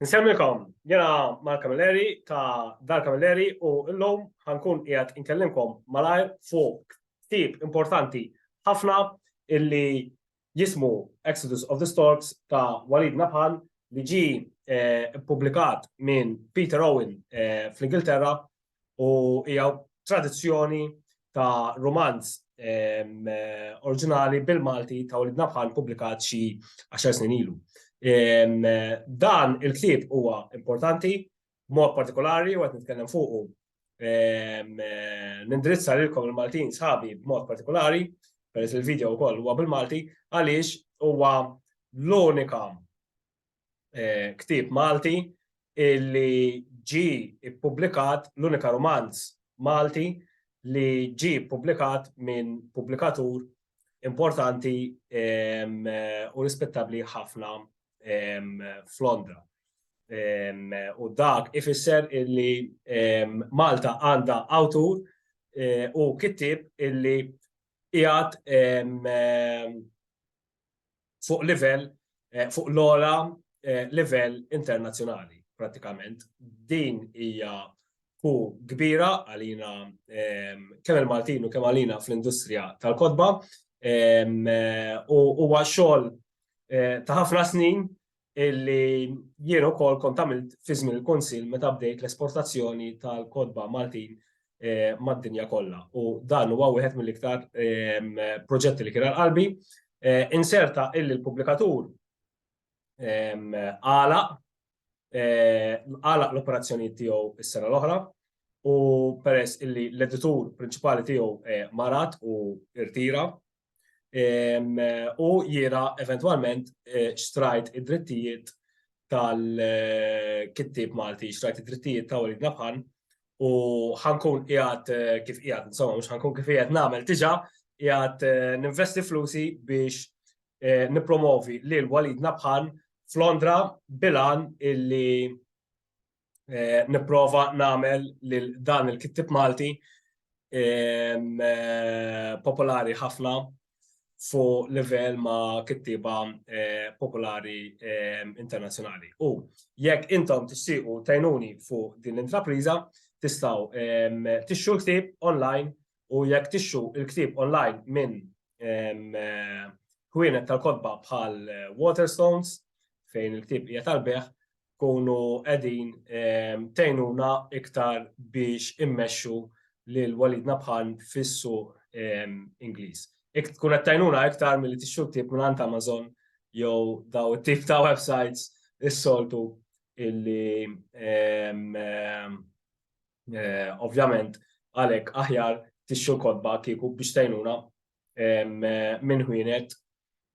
Nsemmilkom, jena mal kamilleri ta' Dar kamilleri u l-lum ħankun qiegħed inkellimkom malajr fuq tip importanti ħafna illi jismu Exodus of the Storks ta' Walid Nabhan li ġi eh, publikat minn Peter Owen eh, fl-Ingilterra u hija tradizzjoni ta' rumanz oriġinali bil-Malti ta' Walid Nabħan pubblikat xi għaxar snin ilu. Dan il-ktieb huwa importanti, mod partikolari, u għet nitkellem fuqu, nindirizza lilkom il-Maltin sħabi b'mod partikolari, peress il-video wkoll huwa bil-Malti, għaliex huwa l-unika ktieb Malti li ġie ppubblikat, l-unika rumanz Malti li ġie ppubblikat minn pubblikatur importanti u rispettabbli ħafna f'Londra. U dak ifisser li Malta għandha awtur u kittieb li qiegħed fuq livell fuq l-ogħla livell internazzjonali prattikament. Din hija hu kbira għalina kemm il-Maltin u kemm għalina fl-industrija tal-kotba u huwa xogħol ta' ħafna snin illi jien ukoll kont għamilt fi żmien il-Kunsill meta bdejt l-esportazzjoni tal-kotba Maltin mad-dinja kollha u dan huwa wieħed mill-iktar proġetti li kien għal qalbi. Inserta illi l-pubblikatur għalaq għalaq l-operazzjonijiet tiegħu s-sena l-oħra u peress illi l-editur prinċipali tiegħu marat u rtira u jira eventwalment eh, xtrajt id-drittijiet tal-kittib Malti, xtrajt id-drittijiet ta' Walid Nabħan u ħankun qiegħed eh, kif qiegħed, insomma mhux ħankun kif qiegħed nagħmel tiġa qiegħed eh, ninvesti flusi biex nipromovi lil Walid Nabħan f'Londra bilan illi eh, nipprova nagħmel lil dan il-kittib Malti ehm, eh, popolari ħafna fu livell ma' kittiba eh, popolari ehm, internazzjonali. U jekk intom tixtiequ tajnuni fu din l-intrapriża, tistgħu ehm, tixxu l-ktieb online u jekk tixxu l-ktieb online minn kwienet tal-kodba bħal eh, Waterstones fejn il-ktib hija tal-beħ, tkunu qegħdin tgħinuna iktar biex immexxu lil Walid Nabhan fis-suq Ingliż. Tkun qed tgħinuna iktar milli tixtru ktieb mingħand Amazon jew daw it-tip ta' websites is-soltu illi ovvjament għalhekk aħjar tixtru l-kotba kieku biex tgħinuna minn ħwienet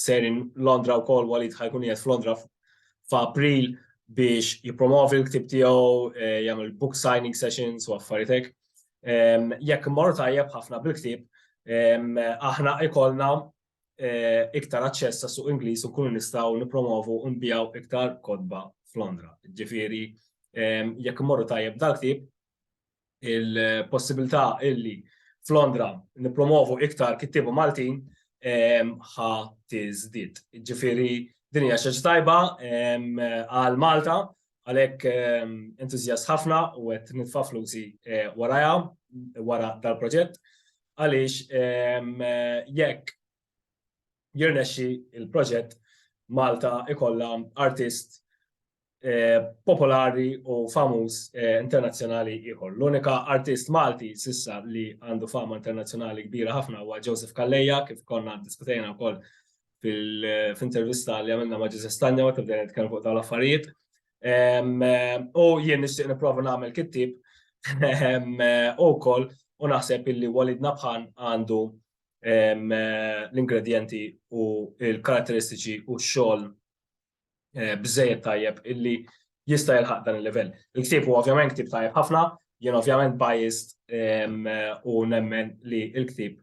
sejrin Londra wkoll Walid ħa jkun qiegħed f'Londra f'April biex jippromovi l-ktib tiegħu, eh, jagħmel book signing sessions u affarijiet hekk. Jekk mmorru tajjeb ħafna bil-ktib, aħna ikollna eh, iktar aċċess għas suq Ingliż u nkunu nistgħu nippromovu u nbijaw iktar kodba f'Londra. Ġifieri jekk mmorru tajjeb dal-ktib, il-possibilità illi f'Londra nippromovu iktar kittieba Maltin ħa tiżdied. Ġifieri din hija xi tajba għal Malta għalhekk entużjast ħafna u qed nitfa' flusi eh, warajha wara dal-proġett għaliex jekk jirnexxi il-proġett Malta ikollha artist popolari u famuż internazzjonali ieħor. L-unika artist Malti sissa li għandu fama internazzjonali kbira ħafna huwa Joseph Kalleja, kif konna diskutejna wkoll fil-intervista li għamilna ma' Ġużef Stanja waqt bdejna nitkellmu fuq dawn l-affarijiet. U jien nixtieq nipprova nagħmel kittib u wkoll u naħseb illi Walid Nabhan għandu l-ingredjenti u l-karatteristiċi u x-xogħol biżżejjed tajjeb illi jista' jilħaq dan il-livell. Il-ktieb huwa ovvjament ktieb tajjeb ħafna, jien ovvjament biased u nemmen li l-ktieb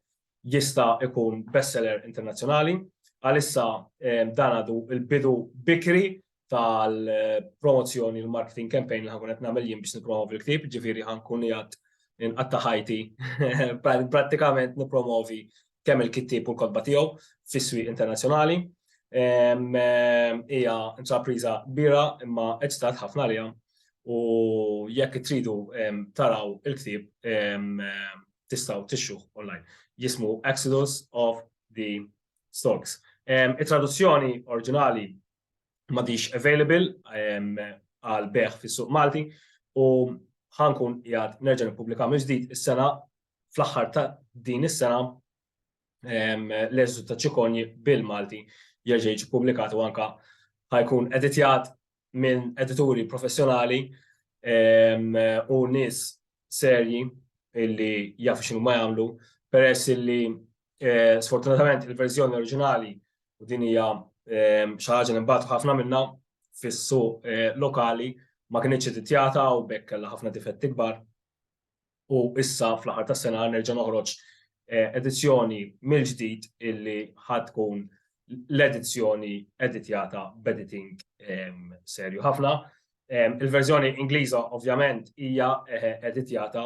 jista' jkun bestseller internazzjonali. Għalissa dan għadu l-bidu bikri tal-promozzjoni l-marketing campaign li ħankun qed nagħmel jien biex nippromovi l-ktieb, ġifieri ħankun qiegħed inqatta' ħajti prattikament nippromovi kemm il-kittieb u l-kotba tiegħu fis-swieq internazzjonali. Hija intrapriża kbira imma eċitat ħafna għaliha u jekk tridu taraw il-ktieb tistgħu tixxuh online. Jismu Exodus of the Storks. It-traduzzjoni oriġinali m'għadhiex available għal bejgħ fis-suq Malti u ħankun qiegħed nerġa' nippubblika mill-ġdid is-sena fl-aħħar ta' din is-sena l-eżitu ta' ċikonji bil-Malti jerġa' jiġi ppubblikat u anka ħajkun editjat minn edituri professjonali u nies serji illi jafu xinu ma jagħmlu peress illi eh, sfortunatament il-verżjoni oriġinali u din hija xi ħaġa li mbagħad ħafna minnha fis-suq eh, lokali ma kienx editjata u bekk kellha ħafna difetti kbar u issa fl-aħħar tas-sena nerġa' noħroġ edizzjoni mill-ġdid illi ħa tkun l-edizzjoni editjata b'editing serju ħafna. Il-verżjoni Ingliża ovvjament hija editjata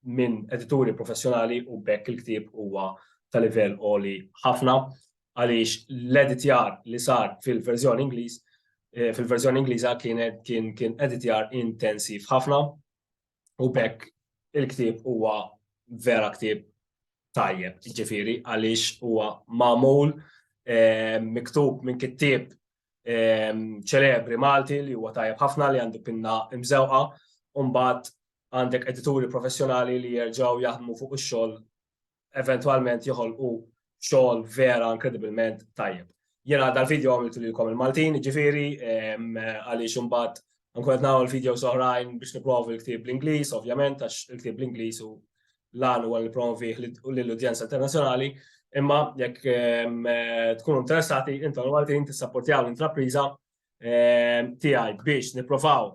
minn edituri professjonali u b'hekk il-ktieb huwa ta' livell għoli ħafna għaliex l-editjar li sar fil-verżjoni Ingliż eh, fil-verżjoni Ingliża kien kien kien editjar intensiv ħafna u bekk il-ktieb huwa vera ktieb tajjeb, ġifiri, għaliex huwa magħmul eh, miktub minn kittieb ċelebri Malti li huwa tajjeb ħafna li għandu pinna imżewqa, u mbagħad għandek edituri professjonali li jerġgħu jaħdmu fuq ix-xogħol eventwalment joħolqu xogħol vera inkredibilment tajjeb. Jena dal-video għamiltu li kom il-Maltin, ġifiri, għaliex imbagħad nkun qed nagħmel video soħrajn biex nipprovi l-ktieb l-Ingliż, ovvjament, għax il-ktieb l-Ingliż u l-għan huwa li promovih lill-udjenza internazzjonali, imma jekk tkunu interessati, intom Maltin tissapportjaw l-intrapriża tiegħi biex nipprovaw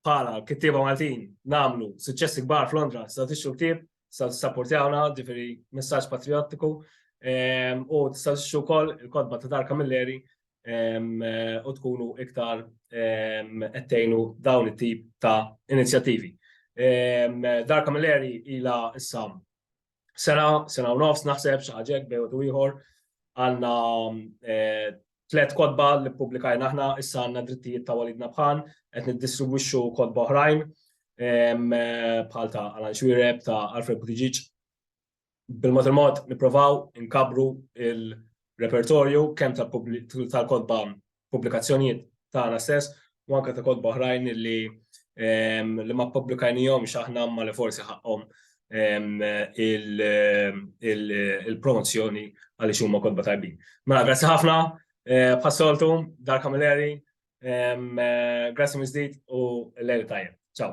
bħala kittieba Maltin namlu suċċessi kbar f'Londra, sa tixtru ktieb, sa tissapportjawna, ġifieri messaġġ patriottiku, u tista' tixtru wkoll il-kotba ta' Dar Kamilleri u tkunu iktar ettejnu dawn it-tip ta' inizjattivi. Dar Kamilleri ila issa sena, sena u nofs naħseb xi ħaġa hekk bejn u ieħor għandna tliet kotba li ppubblikajna aħna, issa għandna drittijiet ta' Walidna Bħan, qed niddistribwixxu kotba oħrajn bħal ta' Alan Xwireb, ta' Alfred Buttigieg. Bil-mod il-mod nipprovaw inkabbru l-repertorju kemm tal-kotba pubblikazzjonijiet tagħna stess u anke ta' kotba oħrajn li li ma ppubblikajnihomx aħna imma li forsi ħaqqhom il-promozzjoni għaliex huma kotba tajbin. Mela grazzi ħafna bħas-soltu Dar Camilleri, grazzi mill-ġdid u lejl tajjeb. Ċaw.